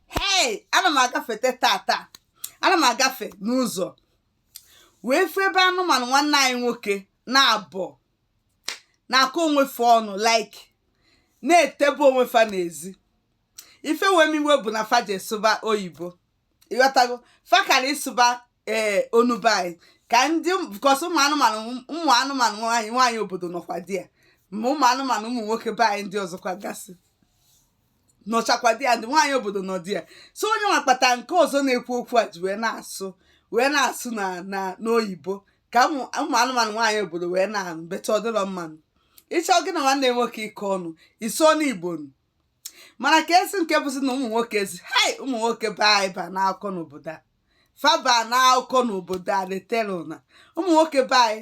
hei ana m agafete tata ana m agafe n'ụzọ wee fụ ebe anụmanụ nwanne anyị nwoke naabọ na-akọ onwe fa ọnụ like na-etebe onwe fa n'ezi ife wee m iwe bụ na fa je sụba oyibo ịghọtago fa kara ịsụba ee onu be anyị ka ndị because ụmụ anụmanụ ụmụ anụmanụ nwaanyị nwaanyị obodo nọkwa there ma ụmụ anụmanụ ụmụ nwoke be anyị ndị ọzọkwa gasị nọchakwa there ndị nwaanyị obodo nọ there so onye nwa kpata nke ọzọ na-ekwu okwu a ji wee na-asụ wee na-asụ na na n'oyibo ka ụmụ ụmụ anụmanụ nwaanyị obodo wee na-anụ better ọ dịlọ mma nụ ị chọ gị na nwanne nwoke ịkọ ọnụ ị sụọnụ igbo nụ mana ka esi nke bụzi na ụmụ nwoke si hai ụmụ nwoke be anyị ba n'akụkọ n'obodo a fa ba n'akụkọ n'obodo a detela ụna ụmụ nwoke be anyị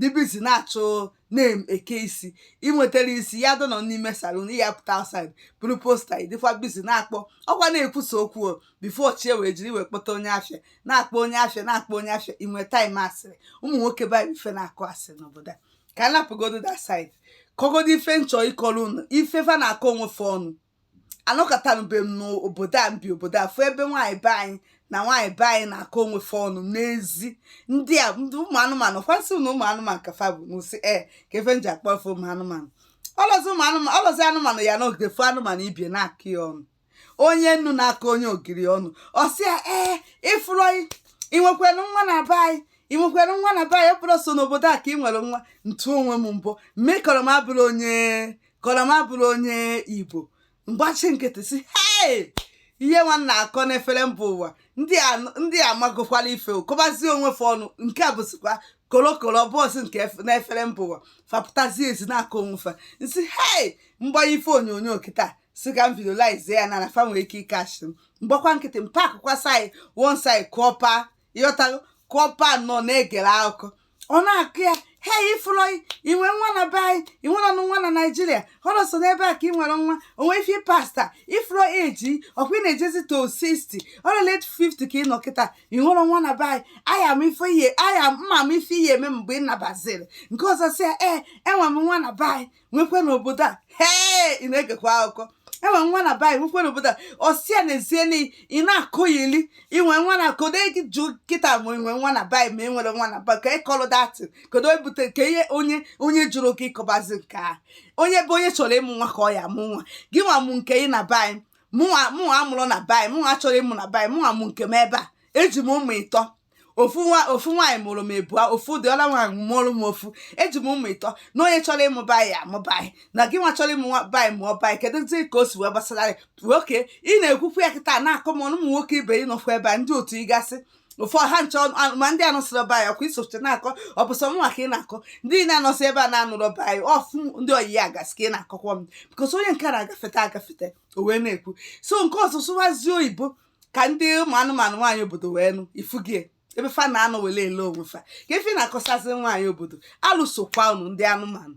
dị busy na-achọ na-eke isi ị nwetara isi ya dọnọ n'ime salon ya pụta outside buru poster ị dịkwa busy na-akpọ ọkwa na-ekwusa okwu o before chi wee jiri wee kpọta onye afịa na-akpọ onye afịa na-akpọ onye afịa ị nwee time asịrị ụmụ nwoke banyere ife na-akọ asịrị n'obodo a ka m hapụgodo that side kọgodo ife m chọ ịkọrọ unu ife fa na-akọ onwe fa ọnụ anọkatanube m n'obodo a m bi obodo a fụ ebe nwaanyị be anyị na nwaanyị be anyị na-akọ onwe fa ọnụ n'ezi ndị a ndị ụmụ anụmanụ kwasị na ụmụ anụmanụ ka fa bụ n'ụsị e ka ife m ji akpọ fa ụmụ anụmanụ ọlọzi ụmụ anụmanụ ọlọzi anụmanụ ya-anọgide fụ anụmanụ ibe e na-akọ ya ọnụ onye nnu na-akọ onye ogiri ọnụ ọ sị ya ee ị fụrọ inwekwere nwa na be anyị inwekwere nwa na be anyị ọ bụrọ sọ n'obodo a ka ị nwere nwa m tụ onwe m mbọ m mee kọrọ m abụrọ onye kọlọ m abụrọ onye igbo m gbachi nkịtị sị hei ihe nwanna akọ n'efere mba ụwa ndị amagokwala ife kọbazie onwe fa ọnụ nke a bụzikwa kolokolo bọọsụ nke n'efere mba ụwa fa pụtazie ezi na-akọ onwe fa m sị hei m gbanye ife onyonyo kịta sị ka m videolize ya na na fa nwere ike ịcatch m m gbakwa nkịtị m parkụkwa side one side kọpa ịghọtago kọpa nọ na-egere akụkọ ọ na-akọ ya he ị fụlọ i nwe nwa na be anyị i nwerọnụ nwa na naijiria ọrọ sọ n'ebe a ka ị nwere nwa o nwe ife pasta ị fụlọ age ị ọkwa ị na-ejezi to 60 or late 50 ka ị nọ kịta i nwerọ nwa na be anyị aya m ife ihe aya m ama ife ị ya-eme mgbe ị nabaziri nke ọzọ sị ya ee enwe m nwa na be anyị nwekwe n'obodo a hee ị na-egekwa akụkọ enwe nwa na be anyị nwekwe n'obodo a ọ sị a n'ezie na ị na-akọyili inwe nwa na kodo gị jụ kịta ma i nwe nwa na be anyị ma i nwere nwa na be anyị ka ị kọlụ datị kodo ebute nke ihe onye onye jụrụ gị ị kọbazi nke a onye ebe onye chọrọ ịmụ nwa ka ọ ya-amụ nwa gịnwa mụ nke ị na be anyị mụnwa mụnwa amụrọ na be anyị mụnwa achọrọ ịmụ na be anyị mụnwa mụ nke m ebe a eji m ụmụ ịtọ ofu nwa ofu nwaanyị mụrụ m ịbụa ofu dị ọla nwaanyị mụrụ m ofu eji m ụmụ ịtọ na onye chọrọ ịmụ be anyị amụọ be anyị na gị nwa chọrọ ịmụ be anyị mụọ be anyị kedu zi ka o si wee gbasara gị nwoke ị na-ekwukwu ya kịta na-akọ m ọnụ ụmụ nwoke ibe ị nọkwa ebe a ndị otu ị gasị ụfọdụ ha ncha ma ndị anọsịrọ ebe a ọ kwa i socha na-akọ ọ bụ sọ mụnwa ka ị na-akọ ndị na-anọsị ebe a na-anụrụ ọba ya ọfụ ndị ọyị ya gasị ka ị na-akọkwa m because onye nke na-agafeta agafeta o wee na-ekwu so nke ọ sụsụwazie oyibo ka ndị ụmụ anụmanụ nwaanyị obodo wee nụ ifugie ebe fa na-anọ wele ele onwe fa ka efi na-akọsazi nwaanyị obodo alụsokwa unu ndị anụmanụ